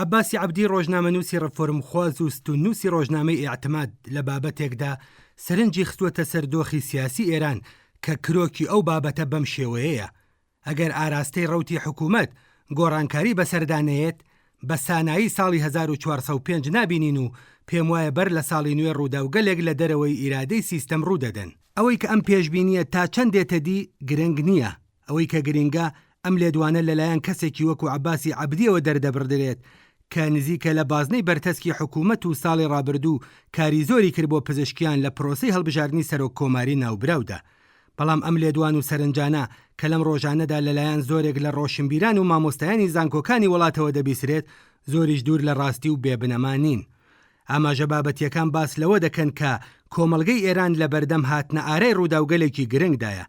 عەباسی عەبدی ڕۆژنامەنووسی ڕفۆرمخواز و ستوننووسی ڕۆژنامەی ئیعتماد لە بابەتێکدا سەرنجی خستووەتە سەر دۆخی سیاسی ئێران کە کرۆکی ئەو بابەتە بەم شێوەیەیە، ئەگەر ئاراستەی ڕەوتی حکوومەت گۆڕانکاری بەسەردا نەیەت، بە سانایی ساڵی هەزار و چوار سەد و پێنج نابینین و پێموایە بەر لە ساڵی نوێ ڕووداوگەلێک لە دەرەوەی ئیرادەی سیستەم ڕوو دەدەن. ئەوەی کە ئەم پێشبینییە تا چەند دێتە دی گرنگ نییە، ئەوەی کە گرینگە ئەم لێدوانە لەلایەن کەسێکی وەکو عەباسی عەبدییەوە دەردەبڕدرێت کە نزیکە لە بازنەی بەرتەسکی حکوومەت و ساڵی ڕابردوو کاری زۆری کرد بۆ پزشکیان لە پرۆسەی هەڵبژاردنی سەرۆک کۆماری ناوبراودا بەڵام ئەم لێدوان و سەرنجانە کە لەم ڕۆژانەدا لەلایەن زۆرێک لە ڕۆشنبیران و مامۆستایانی زانکۆکانی وڵاتەوە دەبیسرێت زۆریش دوور لە ڕاستی و بێ بنەما نین. ئاماژە بابەتییەکان باس لەوە دەکەن کە کۆمەڵگەی ئێران لەبەردەم هاتنە ئارای ڕووداوگەلێکی گرنگدایە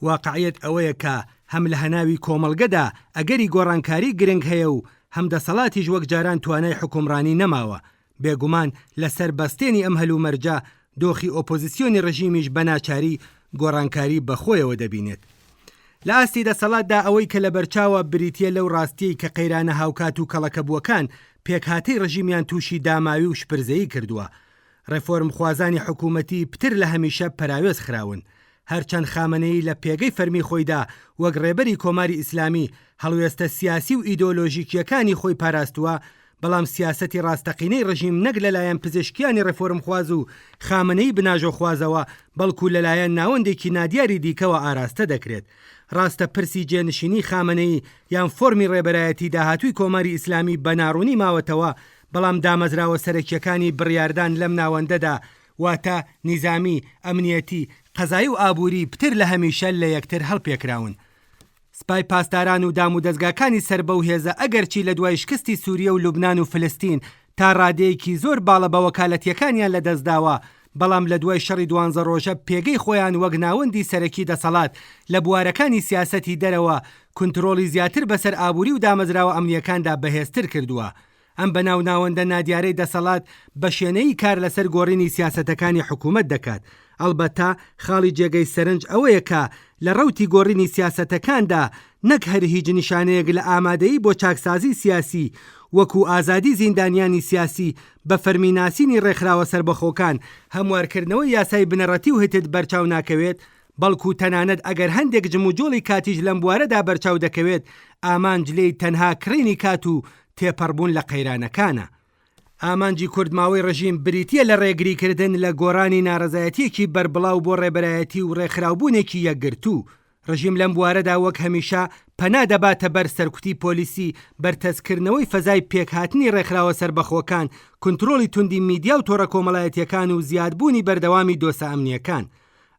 واقعیەت ئەوەیە کە هەم لە هەناوی کۆمەڵگەدا ئەگەری گۆڕانکاری گرنگ هەیە و هەم دەسەڵاتیش وەک جاران توانای حوکمڕانی نەماوە، بێگومان لە سەر بەستێنی ئەم هەلومەرجە دۆخی ئۆپۆزسیۆنی ڕژیمیش بە ناچاری گۆڕانکاری بە خۆیەوە دەبینێت. لە ئاستی دەسەڵاتدا ئەوەی کە لە بەرچاوە بریتیە لەو ڕاستیەی کە قەیرانە هاوکات و کەڵەکەبووەکان پێکهاتەی ڕژیمیان تووشی داماوی و شپرزەیی کردووە، ڕێفۆرمخوازانی حکوومەتی پتر لە هەمیشە پەراوێز خراون، هەرچەند خامەنەیی لە پێگەی فەرمی خۆیدا وەک ڕێبەری کۆماری ئیسلامی هەڵوێستە سیاسی و ئیدۆلۆژیکییەکانی خۆی پاراستووە، بەڵام سیاسەتی ڕاستەقینەی ڕژیم نەک لەلایەن پزیشکیانی ڕێفۆرمخواز و خامەنەیی بناژۆخوازەوە، بەڵکوو لەلایەن ناوەندێکی نادیاری دیکەوە ئاراستە دەکرێت. ڕاستە پرسی جێنشینی خامەنەیی یان فۆرمی ڕێبەرایەتی داهاتووی کۆماری ئیسلامی بە ناڕوونی ماوەتەوە، بەڵام دامەزراوە سەرەکییەکانی بڕیاردان لەم ناوەندەدا، واتە نیزامی، ئەمنییەتی، قەزایی و ئابووری پتر لە هەمیشە لە یەکتر هەڵپێکراون. سپای پاسداران و دامودەزگاکانی سەر بەو هێزە ئەگەرچی لە دوای شکستی سووریە و لوبنان و فلستین تا ڕادەیەکی زۆر باڵە بەوەکالەتییەکانیان لە دەست داوە، بەڵام لە دوای شەڕی دوانزە ڕۆژە پێگەی خۆیان وەک ناوەندی سەرەکی دەسەڵات لە بوارەکانی سیاسەتی دەرەوە کونترۆڵی زیاتر بەسەر ئابووری و دامەزراوە ئەمنییەکاندا بەهێزتر کردووە. ئەم بەناو ناوەندە نادیارەی دەسەڵات بە شێنەیی کار لەسەر گۆڕینی سیاسەتەکانی حکوومەت دەکات، ئەڵبەتە خاڵی جێگەی سەرنج ئەوەیە کە لە ڕەوتی گۆڕینی سیاسەتەکاندا نەک هەر هیچ نیشانەیەک لە ئامادەیی بۆ چاکسازیی سیاسی وەکوو ئازادی زیندانیانی سیاسی بە فەرمی ناسینی ڕێکخراوە سەربەخۆکان، هەموارکردنەوەی یاسای بنەڕەتی و هتد بەرچاو ناکەوێت، بەڵکو تەنانەت ئەگەر هەندێک جموجۆڵی کاتیش لەم بوارەدا بەرچاو دەکەوێت، ئامانج لێی تەنها کڕینی کات و تێپەڕبوون لە قەیرانەکانە. ئامانجی کورتماوەی ڕژیم بریتییە لە ڕێگریکردن لە گۆڕانی ناڕەزایەتییەکی بەربڵاو بۆ ڕێبەرایەتی و ڕێکخراوبوونێکی یەکگرتوو. ڕژیم لەم بوارەدا وەک هەمیشە پەنا دەباتە بەر سەرکوتی پۆلیسی، بەرتەسککردنەوەی فەزای پێکهاتنی ڕێکخراوە سەربەخۆکان، کونترۆڵی توندی میدیا و تۆڕە کۆمەڵایەتییەکان و زیادبوونی بەردەوامی دۆسە ئەمنییەکان.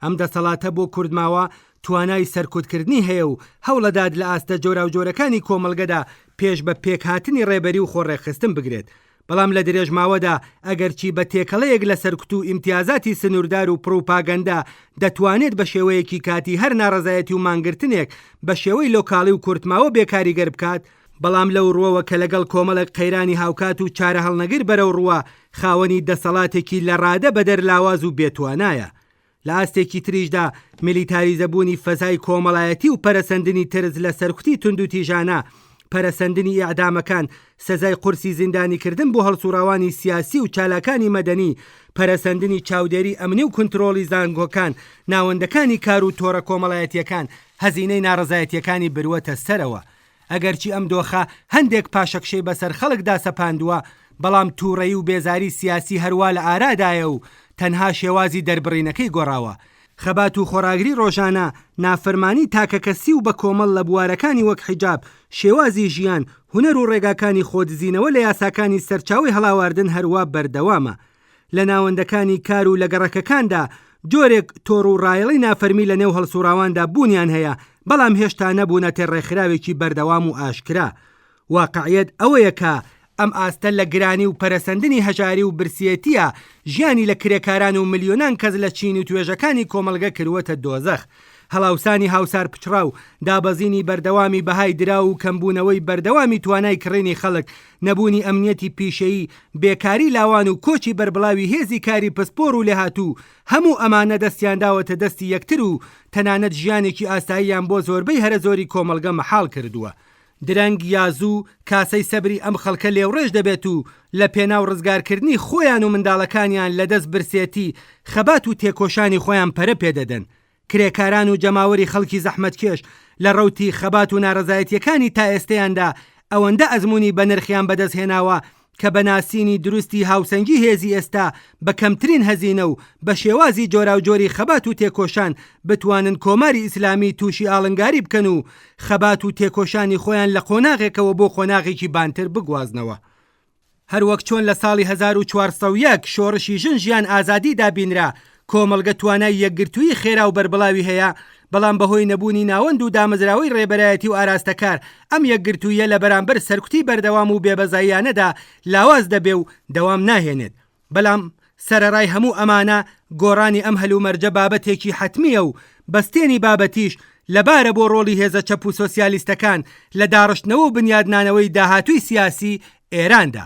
ئەم دەسەڵاتە بۆ کورد ماوە توانای سەرکوتکردنی هەیە و هەوڵەدات لە ئاستە جۆراوجۆرەکانی کۆمەڵگەدا پێش بە پێکهاتنی ڕێبەری و خۆڕێکخستن بگرێت بەڵام لە درێژماوەدا ئەگەرچی بە تێکەڵەیەک لە سەرکوت و ئیمتیازاتی سنووردار و پڕوپاگەندە دەتوانێت بە شێوەیەکی کاتی هەر ناڕەزایەتی و مانگرتنێک بە شێوەی لۆکاڵی و کورتماوە بێکاریگەر بکات بەڵام لەو ڕوەوە کە لەگەڵ کۆمەڵێک قەیرانی هاوکات و چارەهەڵنەگر بەرەو ڕووە، خاوەنی دەسەڵاتێکی لەڕادە بەدەر لاواز و بێ توانایە. لە ئاستێکی تریشدا میلیتاریزەبوونی فەزای کۆمەڵایەتی و پەرەسەندنی ترس لە سەرکوتی توندوتیژانە، پەرەسەندنی ئیعدامەکان، سزای قورسی زیندانیکردن بۆ هەڵسوڕاوانی سیاسی و چالاکانی مەدەنی، پەرەسەندنی چاودێری ئەمنی و کونترۆڵی زانکۆکان، ناوەندەکانی کار و تۆڕە کۆمەڵایەتییەکان، هەزینەی ناڕەزایەتییەکانی بروەتە سەرەوە. ئەگەرچی ئەم دۆخە هەندێک پاشەکشەی بەسەر خەڵکدا سەپاندووە، بەڵام تووڕەیی و بێزاری سیاسی هەروا لە ئارادایە و تەنها شێوازی دەربڕینەکەی گۆڕاوە. خەبات و خۆڕاگری ڕۆژانە، نافەرمانی تاکەکەسی و بەکۆمەڵ لە بوارەکانی وەک حیجاب، شێوازی ژیان، هونەر و ڕێگاکانی خۆدزینەوە لە یاساکانی سەرچاوەی هەڵاواردن هەروا بەردەوامە. لە ناوەندەکانی کار و لە گەڕەکەکاندا جۆرێک تۆڕ و ڕایەڵی نافەرمی لە نێو هەڵسوڕاواندا بوونیان هەیە، بەڵام هێشتا نەبوونەتێ ڕێکخراوێکی بەردەوام و ئاشکرا. واقعیەت ئەوەیە کە، ئەم ئاستە لە گرانی و پەرەسەندنی هەژاری و برسیەتییە ژیانی لە کرێکاران و ملیۆنان کەس لە چین و توێژەکانی کۆمەڵگە کرووەتە دۆزەخ. هەڵاوسانی هاوسار پچڕاو، دابەزینی بەردەوامی بەهای دراو و کەمبوونەوەی بەردەوامی توانای کڕینی خەڵک، نەبوونی ئەمنیەتی پیشەیی، بێکاری لاوان و کۆچی بەربڵاوی هێزی کاری پسپۆڕ و لێهاتوو، هەموو ئەمانە دەستیان داوەتە دەستی یەکتر و تەنانەت ژیانێکی ئاساییان بۆ زۆربەی هەرە زۆری کۆمەڵگە مەحاڵ کردووە. درەنگ یا زوو کاسەی سەبری ئەم خەڵکە لێوڕێژ دەبێت و لە پێناو ڕزگارکردنی خۆیان و منداڵەکانیان لە دەست برسێتی، خەبات و تێکۆشانی خۆیان پەرە پێ دەدەن. کرێکاران و جەماوەری خەڵکی زەحمەتکێش لە ڕەوتی خەبات و نارەزایەتیەکانی تا ئێستەیاندا ئەوەندە ئەزموونی بەنرخیان بەدەست هێناوە کە بە ناسینی دروستی هاوسەنگی هێزی ئێستا بە کەمترین هەزینە و بە شێوازی جۆراوجۆری خەبات و تێکۆشان بتوانن کۆماری ئیسلامی تووشی ئاڵنگاری بکەن و خەبات و تێکۆشانی خۆیان لە قۆناغێکەوە بۆ قۆناغێکی بانتر بگوازنەوە. هەر وەک چۆن لە ساڵی هەزار و چوار سەد و یەک شۆڕشی ژن ژیان ئازادی دابینرا، کۆمەڵگە توانای یەکگرتوویی خێرا و بەربڵاوی هەیە، بەڵام بەهۆی نەبوونی ناوەند و دامەزراوەی ڕێبەرایەتی و ئاراستەکار، ئەم یەکگرتووییە لە بەرامبەر سەرکوتی بەردەوام و بێبەزاییانەدا لاواز دەبێ و دەوام ناهێنێت. بەلام سەرەرای هەموو ئەمانە گۆرانی ئەم هەلومەرجە بابەتێکی حەتمیە و بەستێنی بابەتیش لەبارە بۆ رۆڵی هێزە چەپ و سۆسیالیستەکان لە داڕشتنەوە و بنیادنانەوەی داهاتووی سیاسی ئێراندا.